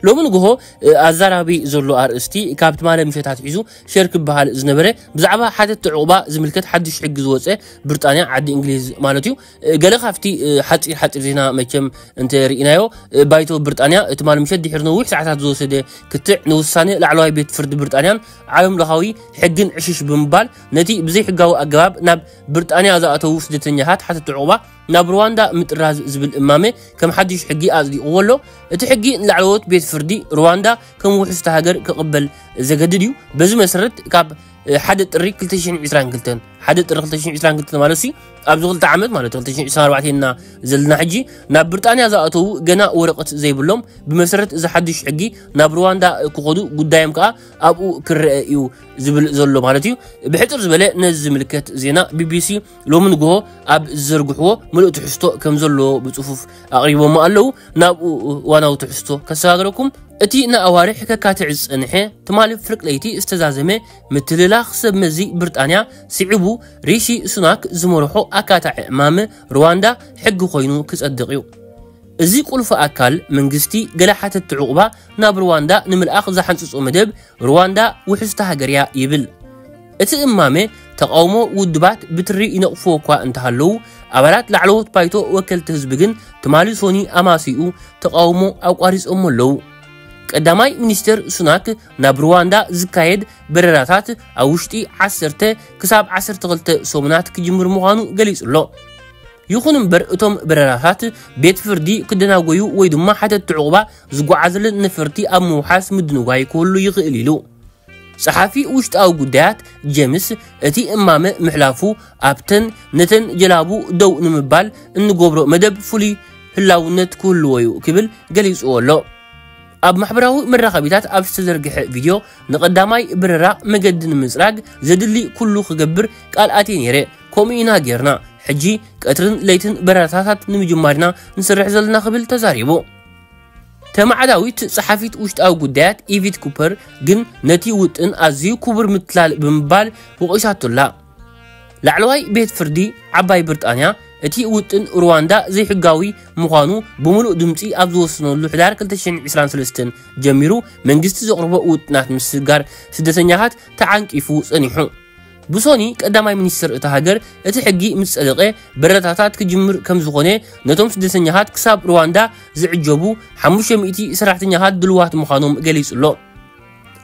ሎሚ ንግሆ ኣዛራቢ ዘሎ ኣርእስቲ ካብ ትማሊ ምሸት ኣትሒዙ ሸር ክበሃል ዝነበረ ብዛዕባ ሓተትቲ ዕቑባ ዝምልከት ሓድሽ ሕጊ ዝወፀ ብርጣንያ ዓዲ እንግሊዝ ማለት እዩ ገለ ካብቲ ሓፂር ሓፂር ዜና መቸም እንተ ርኢናዮ ባይቶ ብርጣንያ ትማሊ ምሸት ድሕሪ ነዊሕ ሰዓታት ዝወሰደ ክትዕ ንውሳነ ላዕለዋይ ቤት ፍርዲ ብርጣንያን ዓለም ለኻዊ ሕግን ዕሽሽ ብምባል ነቲ ብዘይሕጋዊ ኣገባብ ናብ ብርጣንያ ዝኣተዉ ስደተኛታት ሓተትቲ ዕቑባ ናብ ሩዋንዳ ምጥራዝ ዝብል እማመ ከም ሓድሽ ሕጊ ኣጽዲቕዎ ኣሎ። እቲ ሕጊ ንላዕለዎት ቤት ፍርዲ ሩዋንዳ ከም ውሕስቲ ሃገር ክቕበል ዘገድድ እዩ። በዚ መሰረት ካብ ሓደ ጥሪ 2022 ሓደ ጥሪ 2022 ማለት ሲ ኣብዚ ክልተ ዓመት ማለት 2024 እና ዘለና ሕጂ ናብ ብሪጣንያ ዝኣተዉ ገና ወረቀት ዘይብሎም ብመሰረት እዚ ሓድሽ ሕጊ ናብ ሩዋንዳ ክኸዱ ጉዳዮም ከዓ ኣብኡ ክረአ እዩ ዝብል ዘሎ ማለት እዩ ብሕፅር ዝበለ ነዚ ዝምልከት ዜና ቢቢሲ ሎሚ ንግሆ ኣብ ዝዘርግሕዎ ምሉእ ትሕዝቶ ከም ዘለዎ ብጽፉፍ ኣቕሪቦሞ ኣለዉ። ናብኡ እዋናዊ ትሕዝቶ ከሰጋግረኩም። እቲ ንኣዋርሕ ከካትዕ ዝጸንሐ ትማሊ ፍርቂ ለይቲ ዝተዛዘመ ምትልላኽ ሰብ መዚ ብርጣንያ ስዒቡ ሪሺ ሱናክ ዝመርሖ ኣካታዒ ዕማም ርዋንዳ ሕጊ ኮይኑ ክጸድቕ'ዩ። እዚ ቁልፊ ኣካል መንግስቲ ገለ ሓተትቲ ዑቕባ ናብ ርዋንዳ ንምልኣኽ ዝሓንጽጾ መደብ ርዋንዳ ውሕስቲ ሃገር'ያ ይብል። እቲ እማመ ተቓውሞ ውድባት ብትሪ ይነቕፍዎ እኳ እንተሃለዉ፣ ኣባላት ላዕለዎት ባይቶ ወከልቲ ህዝቢ ግን ትማሊ ሶኒ ኣማስይኡ ተቓውሞ ኣቋሪጾሞ ኣለዉ። ቀዳማይ ሚኒስተር ሱናክ ናብ ሩዋንዳ ዝካየድ በረራታት ኣብ ውሽጢ ዓሰርተ ክሳብ ዓሰርተ ክልተ ሰሙናት ክጅምር ምዃኑ ገሊጹ ኣሎ። ይኹን እምበር እቶም በረራታት ቤት ፍርዲ ክደናጎዩ ወይ ድማ ሓተትቲ ዕቑባ ዝጓዓዙለን ነፈርቲ ኣብ ምውሓስ ምድንጓይ ክህሉ ይኽእል ኢሉ። ጸሓፊ ውሽጣዊ ጉዳያት ጀምስ እቲ እማመ ምሕላፉ ኣብተን ነተን ጀላቡ ደው ንምባል እንገብሮ መደብ ፍሉይ ህላውነት ክህልዎ'ዩ ክብል ገሊጽዎ ኣሎ። ኣብ ማሕበራዊ መራኸቢታት ኣብ ዝተዘርግሐ ቪድዮ ንቐዳማይ በረራ መገዲ ንምጽራግ ዘድሊ ኩሉ ክገብር ቃል ኣትየ ነይረ፣ ከምኡ ኢና ጌርና፣ ሕጂ ቀትርን ለይትን በረራታታት ንምጅማር ኢና ንሰርሕ ዘለና ክብል ተዛሪቡ። ተማዕዳዊት ጸሓፊት ውሽጣዊ ጉዳያት ኢቪት ኩፐር ግን ነቲ ውጥን ኣዝዩ ክቡር ምትላል ብምባል ወቒሳቶ'ላ። ላዕለዋይ ቤት ፍርዲ ዓባይ ብርጣንያ እቲ ውጥን ሩዋንዳ ዘይሕጋዊ ምዃኑ ብምሉእ ድምጺ ኣብ ዝወሰነሉ ሕዳር 2023 ጀሚሩ መንግስቲ ዘቕርቦ ውጥናት ምስግጋር ስደተኛታት ተዓንቂፉ ጸኒሑ። ብሶኒ ቀዳማይ ሚኒስትር እታ ሃገር እቲ ሕጊ ምስ ጸደቐ በረራታት ክጅምር ከም ዝኾነ ነቶም ስደተኛታት ክሳብ ሩዋንዳ ዝዕጀቡ 500 ሰራሕተኛታት ድልዋት ምዃኖም ገሊጹ ኣሎ።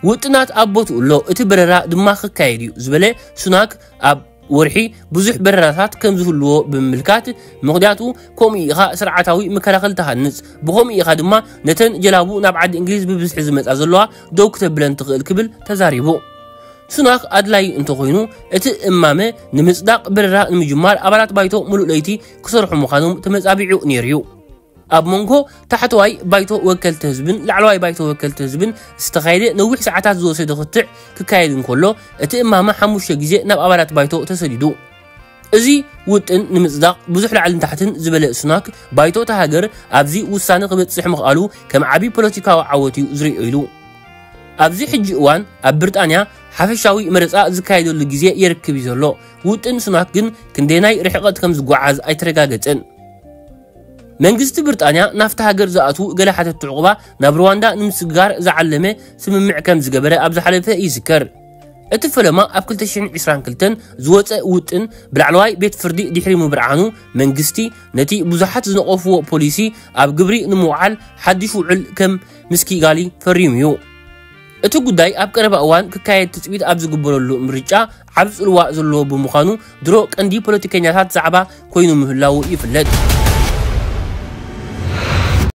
ውጥናት ኣብ ቦትኡ ኣሎ፣ እቲ በረራ ድማ ክካየድ እዩ ዝበለ ሱናክ ኣብ ወርሒ ብዙሕ በረራታት ከም ዝህልዎ ብምምልካት ምኽንያቱ ከምኡ ኢኻ ስርዓታዊ መከላኸሊ ትሃንጽ ብኸምኡ ኢኻ ድማ ነተን ጀላቡ ናብ ዓዲ እንግሊዝ ብብዝሒ ዝመጻ ዘለዋ ደው ክተብለን ትኽእል ክብል ተዛሪቡ። ስናክ ኣድላዩ እንተኾይኑ እቲ እማመ ንምጽዳቕ በረራ ንምጅማር ኣባላት ባይቶ ምሉእ ለይቲ ክሰርሑ ምዃኖም ተመጻቢዑ ነይሩ'ዩ። ኣብ መንጎ ታሕተዋይ ባይቶ ወከልቲ ህዝብን ላዕለዋይ ባይቶ ወከልቲ ህዝብን ዝተኻየደ ነዊሕ ሰዓታት ዝወሰደ ክትዕ ክካየድ እንከሎ እቲ እማመ ሓሙሽተ ግዜ ናብ ኣባላት ባይቶ ተሰዲዱ። እዚ ውጥን ንምጽዳቕ ብዙሕ ላዕልን ታሕትን ዝበለ ሱናክ ባይቶ እታ ሃገር ኣብዚ ውሳነ ክበጽሕ ምኽኣሉ ከም ዓቢ ፖለቲካዊ ዓወት'ዩ ዝርእዮ ኢሉ። ኣብዚ ሕጂ እዋን ኣብ ብርጣንያ ሓፈሻዊ መረጻ ዝካየደሉ ግዜ የርክብ እዩ ዘሎ። ውጥን ሱናክ ግን ክንደየናይ ርሕቐት ከም ዝጓዓዝ ኣይተረጋገጸን። መንግስቲ ብርጣንያ ናብታ ሃገር ዝኣትዉ ገለ ሓተቲ ዕቑባ ናብ ሩዋንዳ ንምስግጋር ዝዓለመ ስምምዕ ከም ዝገበረ ኣብ ዝሓለፈ ይዝከር። እቲ ፈለማ ኣብ 2022 ዝወጸ ውጥን ብላዕለዋይ ቤት ፍርዲ ድሕሪ ምብርዓኑ መንግስቲ ነቲ ብዙሓት ዝነቐፍዎ ፖሊሲ ኣብ ግብሪ ንምውዓል ሓድሽ ውዕል ከም ምስ ኪጋሊ ፈሪሙ እዩ። እቲ ጉዳይ ኣብ ቀረባ እዋን ክካየድ ትፅቢት ኣብ ዝግበረሉ ምርጫ ዓብ ፅልዋ ዘለዎ ብምዃኑ ድሮ ቀንዲ ፖለቲከኛታት ዛዕባ ኮይኑ ምህላዉ ይፍለጥ።